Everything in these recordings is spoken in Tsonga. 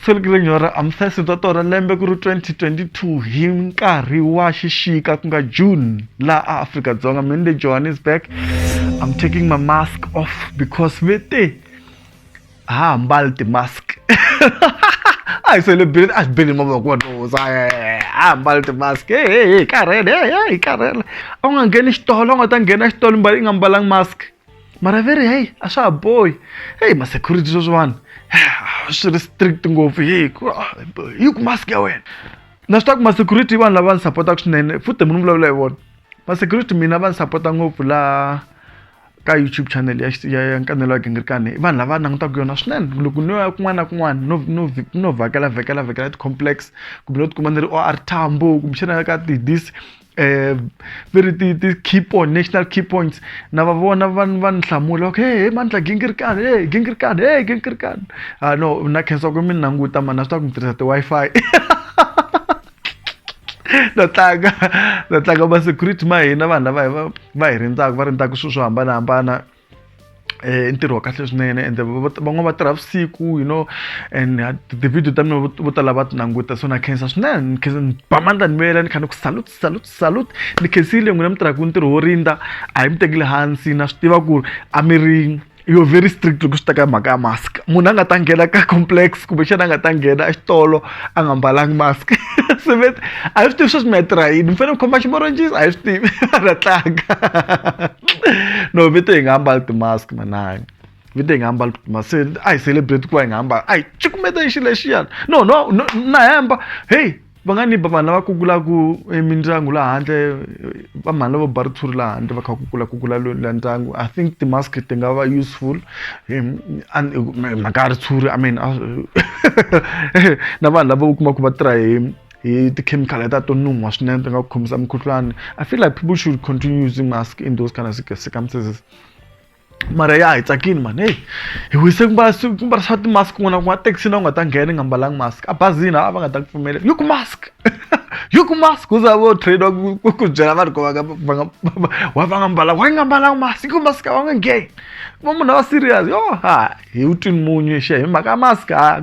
Selikilenyora ra Amthesi bya torha lembe ku ri 2022 hi nkarhi wa xixika ku nga June laha a Afrika-Dzonga mini le Johannesburg I'm taking my mask off because ve te a ha hambali ti-mask a hi celebrate a hi beli mavoko wa nhoza a mbali ti-mask he he hi karhele he he hi karhele a wu nga ngheni xitolo a wu nga ta nghena xitolo mbali i nga mbalanga mask. mara veri heyi a swa ha bohi heyi ma-security sweswo vanhu swi ri strict ngopfu heyi ku ah, yi ku mask ya wena na swi ta ku ma-security vanhu lava ni sapotaka swinene futhi mi ni vulavula hi vona ma-security mina va ni sapota ngopfu laha ka youtube channel ya ya ya nkanelo ya gingirikani vanhu lava langutaka yona swinene loko no ya kun'wana na kun'wana no no no vhakela vhakela vhakela ti-complex kumbe no tikuma ni ri o r tambo kumbexana ka ti-dis eh ve ri ti ti key point national key points na va vona va va ni hlamula okay he he mandla gingirikani he gingirikani he gingirikani ah no na khensa ku mi ni languta mani na swi tiva ku mi tirhisa ti-wi-fi na tlanga na tlanga ma-security ma hina vanhu lava hi va va hi rindzaka va rindzaka swilo swo hambanahambana i ntirho wa kahle swinene ende van'wana va tirha vusiku you know and ti-video ta mina vo tala va ti languta so na khensa swinene ni khensa ni ba mandla ni vuyela ni kha ni ku salute salute salute ni khensile n'wina mi tirhaka ntirho wo rindza a hi mi tekile hansi na swi tiva ku ri a mi ri you're very strict loko swi ta ka mhaka ya mask munhu a nga ta nghena ka complex kumbexana a nga ta nghena exitolo a nga mbalangi mask sevet a hi swi tivi sweswi mi ya tirha yini mi fanele mi khoma ximorojisi a hi swi tivi a nga tlanga no vito hi nga ambali ti-mask mananga vito hi nga ambali ti-mask se a hi celebrate ku va hi nga ambali a hi cukumeta hi xi lexiyana no no no na hemba hey va nga ni ba vanhu lava kukulaku emindyangu laha handle va mhani lavo ba ritshuri laha handle va kha kukula kukula la ndyangu i think ti-mask ti nga va useful mhaka ya ritshuri i mean na vanhu lava u kuma ku va tirha hi hi tikhemikhali leta to nuha swinene ti nga ku khomisa mukhuhlwani i feel like people should continue using mask in those kind of circumstances mara ya hi tsakini mani heyi hi wise ku mbarisa timask kun'wana kun'wana taxi na u nga ta nghena i nga mbalanga mask a bazini a va nga ta ku pfumela yi ku mask yi ku mask u za vo train wa ku byela vanhu ku va nga va nga wa va nga mbalanga wa nga mbalanga mask yi ku mask wa nga ngheni va munhu a va serious yo ha hi wu twini munyu xe hi mhaka mask ha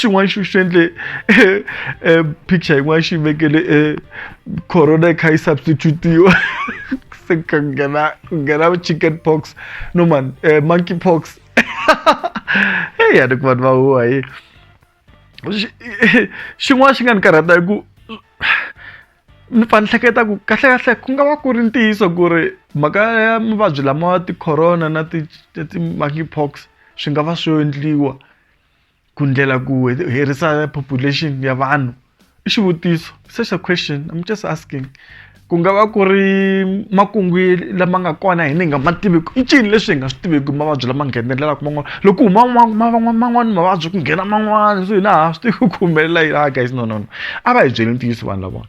xin'wana xi swi endle eh, eh, picture yin'wana xi vekele eh, corona kha yi substitutiwa se ka nghena ku nghena chicken pox no man monkey pox heyi a ni ku vanhu va huwa hi xin'wana xi nga ni karhata hi ku ni pfa ni hleketa ku kahlekahle ku nga va ku ri ntiyiso ku ri mhaka ya mavabyi lama ti-corona na ti-monkey pox swi nga va swi yo endliwa ku ndlela ku herisa population ya vanhu i xivutiso such a question I'm just asking ku nga va ku ri makungu lama nga kona hi ni nga ma tiviki i ncini leswi hi nga swi tiviki mavabyi lama nghenelelaka man'wana loko huma man'wana mavabyi ku nghena man'wana so hina ha swi tivi ku humelela yini a guys no no no a va hi byeli ntiyiso vanhu lavona.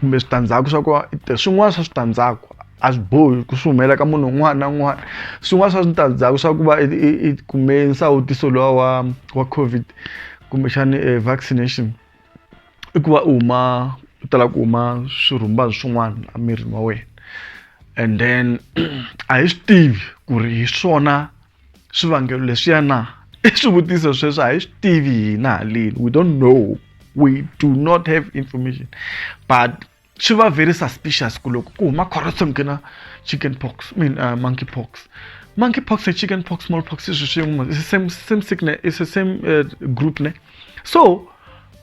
kumbe switandzhaku swa kona swin'wana swa switandzhaku a swi bohi ku swi humelela ka munhu un'wana na un'wana swin'wana swa switandzhaku swa ku va i kume nsawutiso lowa wa wa covid kumbexani e vaccination i ku va u huma u tala ku huma swirhumbani swin'wana emirini wa wena and then a hi swi tivi ku ri hi swona. swivangelo leswiya na i swivutiso sweswo a hi swi tivi hina haleni we don't know we do not have information but swi va very suspicious ku loko ku huma corruption ku na chicken pox I mean uh, monkey pox monkey pox and chicken pox small pox i swilo swin'we it's the same same sickness it's the same uh, group ne so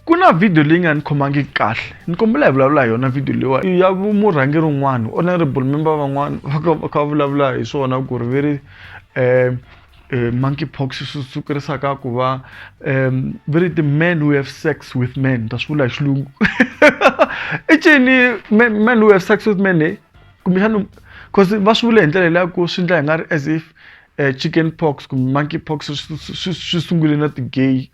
ku na vhidiyo leyi nga ni khomangi kahle ni kombela hi vulavula hi yona vhidiyo leyiwa i ya murhangeri un'wana honorable member van'wana va kha va kha va vulavula hi swona ku ri ve ri um monkey pox swi sukurisaka ku va um ve ri ti-man who have sex with men ta swi vula hi xilungu i cini man who have sex with men e kumbexana cause va swi vula hi ndlela leya ku swi endla hi nga ri as if eh, chicken pox kumbe monkey pox swi- swi swi- swi sungule na ti-gay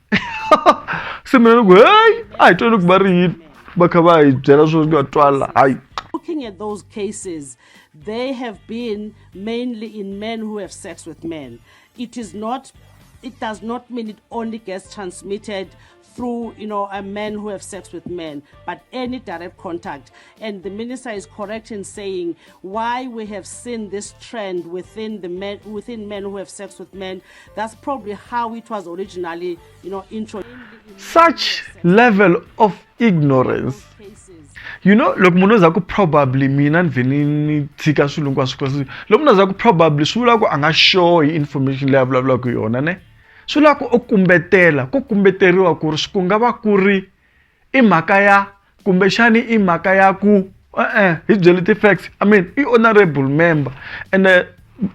se mina ni ku heyi a hi twani ku va ri yini va kha va hi byela swo nga twala hayi Looking at those cases, they have been mainly in men who have sex with men. It is not, it does not mean it only gets transmitted through you know a men who have sex with men but any direct contact and the minister is correct in saying why we have seen this trend within the men within men who have sex with men that's probably how it was originally you know intro such level of ignorance you know loko munhu oza ku probably mina ni vhe ni ni tshika swilo hinkwaswo kwaswo loko munhu oza ku probably swi vula ku a nga sure hi information leyi a vulavulaka yona ne swi lava ku u kumbetela ku kumbeteriwa ku ri swi ku nga va ku ri i mhaka ya kumbexani i mhaka ya ku e-e hi byeli ti-facts i mean i honourable member ene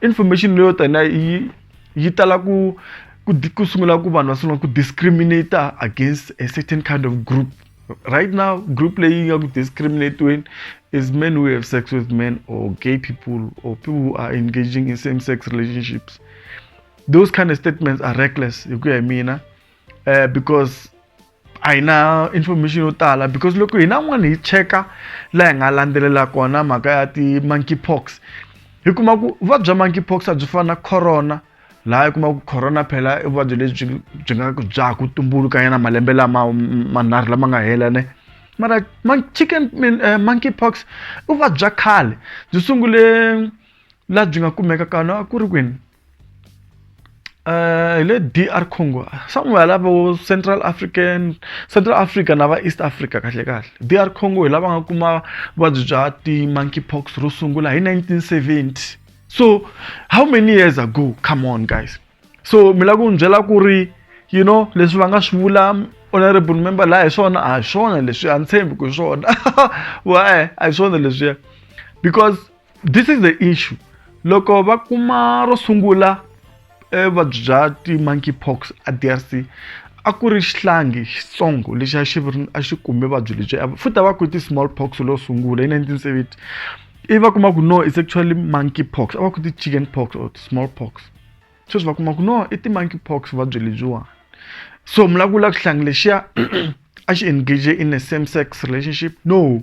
information leyo taniya yi yi tala ku ku ku sungula ku vanhu va sungula ku discriminator against a certain kind of group right now group leyi nga ku discriminate-weni is men who have sex with men or gay people or people who are engaging in same sex relationships. those kind of statements are reckless hi ku ya hi mina uh, because a hi na information yo tala because loko hina n'wana hi cheka laha hi nga landzelela kona mhaka ya ti-monkey pox hi kuma ku vuvabyi bya monkey pox a byi fana na corona laha hi kuma ku corona phela i vuvabyi lebyi byi nga bya ku tumbulukanyana malembe lama manharhu lama nga hela ne mara chicken uh, monkey pox i vuvabyi bya khale byi sungule laha byi nga kumeka kana a ku ri kwini hi le DR Congo somewhere lava vo Central African Central Africa na va East Africa kahle kahle DR Congo hi lava nga kuma vuvabyi bya ti-monkey pox ro sungula hi 1970 so how many years ago come on guys so mi lava ku ni byela ku ri you know leswi va nga swi vula honorable member laha hi swona a hi swona leswi a ni tshembi ku hi swona wa a hi swona leswiya because this is the issue loko va kuma ro sungula eh, vuvabyi bya ti-monkey pox a drc a ku ri xihlangi xitsongo lexi a xi ri- a xi kume vuvabyi lebyi a- futhi a va ku ti-small pox lo sungula hi 1970 ivi va kuma ku no it's actually monkey pox a va ku ti-chicken pox or small pox sweswi va kuma ku no i ti-monkey pox vuvabyi lebyiwani so mi lava ku vula ku xihlangi lexiya a xi engage in a same sex relationship no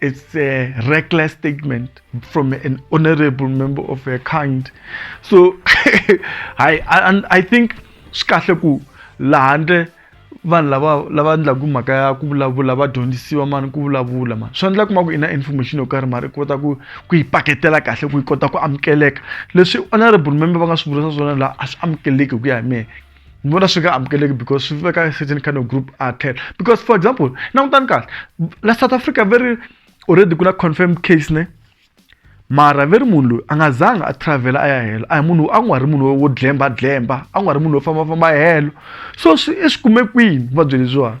It's a reckless statement from an honorable member of a kind. So I, I, I think swi kahle ku laha ndle vanhu lava lava endlaku mhaka ya ku vulavula va dyondzisiwa mani ku vulavula mani swi endla kuma ku i na information yo karhi mari i kota ku ku yi paketela kahle ku yi kota ku amukeleka leswi honorable member va nga swi vurisa swona laha a swi amukeleki hi ku ya hi mehe ni vona swi nga amukeleki because swi veka certain kind of group a tlhela because for example langutani kahle la south africa very already ku na confirmed case ne mara ve ri munhu loyi a nga zanga a travela a ya helo a hi munhu a n'wi ri munhu wo dlemba dlemba a n'wi ri munhu wo fambafamba helo so swi i swi kume kwini vuvabyi lebyiwani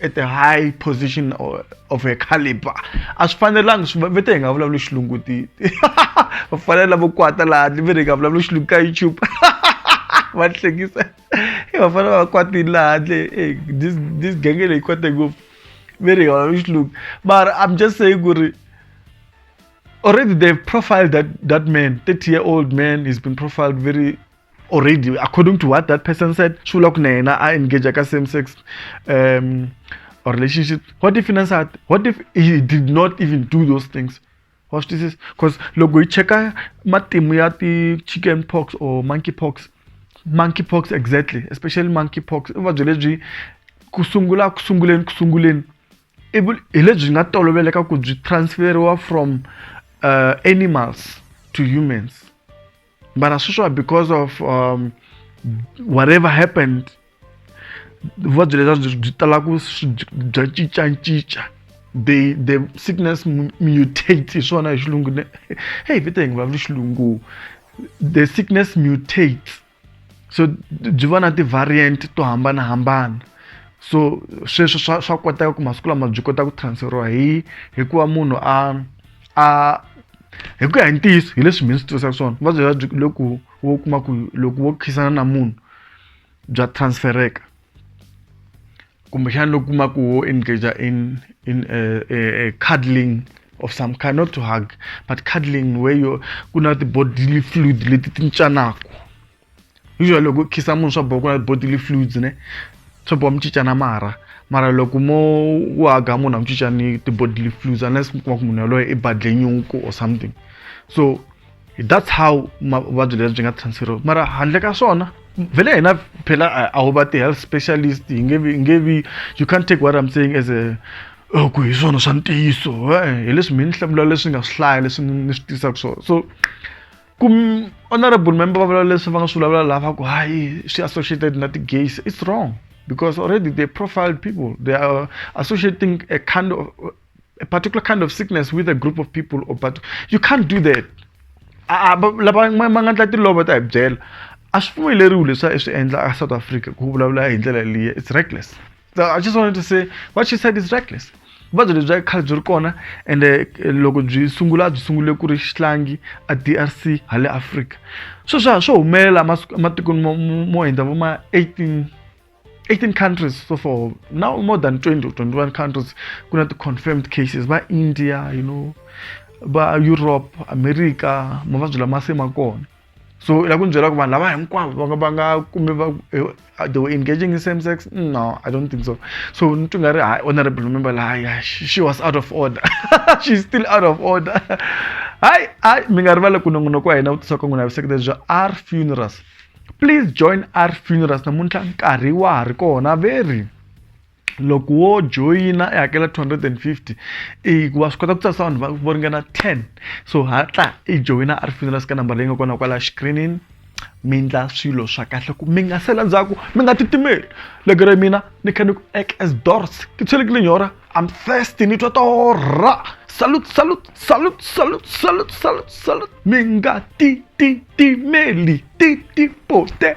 at the high position of her caliber a swi fanelanga swi ve te hi nga vulavuli xilungu ti va fanele lavo kwata laha ni ve hi nga vulavuli xilungu ka youtube va hlekisa va fanele va kwatini laha handle this this genge leyi kwate ngopfu ve hi nga vulavuli xilungu mara i'm just saying ku ri already they've profiled that that man 30 year old man he's been profiled very already according to what that person said swi vula ku na yena a engage ka same sex um or relationship what if na nsati what if he did not even do those things wa swi twisisa because loko hi cheka matimu ya ti-chicken pox or monkey pox monkey pox exactly especially monkey pox i vuvabyi lebyi ku sungula ku sunguleni ku sunguleni ivi hi lebyi nga toloveleka ku byi transferiwa from uh, animals to humans But as usual, because of um, whatever happened, vuvabyi lebyi byi byi tala ku bya cincacinca the the sickness mutate hi swona hi xilungu ne hey vita hi nga xilungu the sickness mutates so byi va na ti-variant to hambanahambana so sweswo swa swa koteka ku masiku lama byi kota ku transferiwa hi hikuva munhu a a hi ku ya hi ntiyiso hi leswi mina swi tirhisaka swona vuvabyi bya byi loko wo kuma ku loko wo khisana na munhu bya transfereka kumbexana loko kuma ku wo engage in in a, a, a cuddling of some kind not to hug but cuddling where you ku na ti-bodily fluid leti ti cincanaka usually loko u khiza munhu swa boha ku na bodily fluids ne swa boha mi cincana marha mara loko mo u haga munhu a mi cincani ti-bodily fluids unless mi kuma ku munhu yaloye i badle nyuku or something so that's how vuvabyi lebyi byi nga transferiwa mara handle ka swona vele hina phela a wu va ti-health specialist hi nge vi nge vi you can't take what i'm saying as a oh, ku hi swona swa ntiyiso hi leswi mi ni hlamula leswi nga swi hlaya leswi ni swi tisaka swona so ku honorable member va vula leswi va nga swi vulavula lava ku hayi swi associated na ti-gays it's wrong because already they profiled people they are associating a kind of a particular kind of sickness with a group of people or but you can't do that lava ma nga ndla tilova ta hi byela a swi pfumeleriwi leswi a swi endla a south africa ku vulavula hi ndlela liya it's reckless i just wanted to say what she said is reckless vuvabyi lebyi bya khale byi ri kona ende eh, loko byi sungula byi sungule ku ri xihlangi a drc ha le afrika swo swa swo humelela ematikweni mo hundza vo ma 18 18 countries so for now more than 20 or 21 countries ku na ti-confirmed cases va india you know va europe america mavabyi lama se ma kona so i lava ku ni byela ku vanhu lava hinkwavo va nga va nga kumbe va they were engaging in same sex no i don't think so so ni twi nga ri hayi honorable remember la hayi she was out of order she's still out of order hayi hayi mi nga rivali ku nongonoko wa hina vutisa ka n'wina ya vuseketeri bya r funerals please join r funerals namuntlha nkarhi wa ha ri kona very loko wo joyina i hakela 250 i wa swi kota ku tsarisa vanhu vo ringana 10 so hatla i joyina a ri funeral ka nambara leyi nga kona kwala xikirinini mi endla swilo swa kahle ku mi nga sela ndzhaku mi nga titimeli loko ri mina ni kha ni ku ek as dors ti tshelekile nyora am thirsty ni twa torha salut salut salut salut salut salut salut mi nga tititimeli Titi Poté.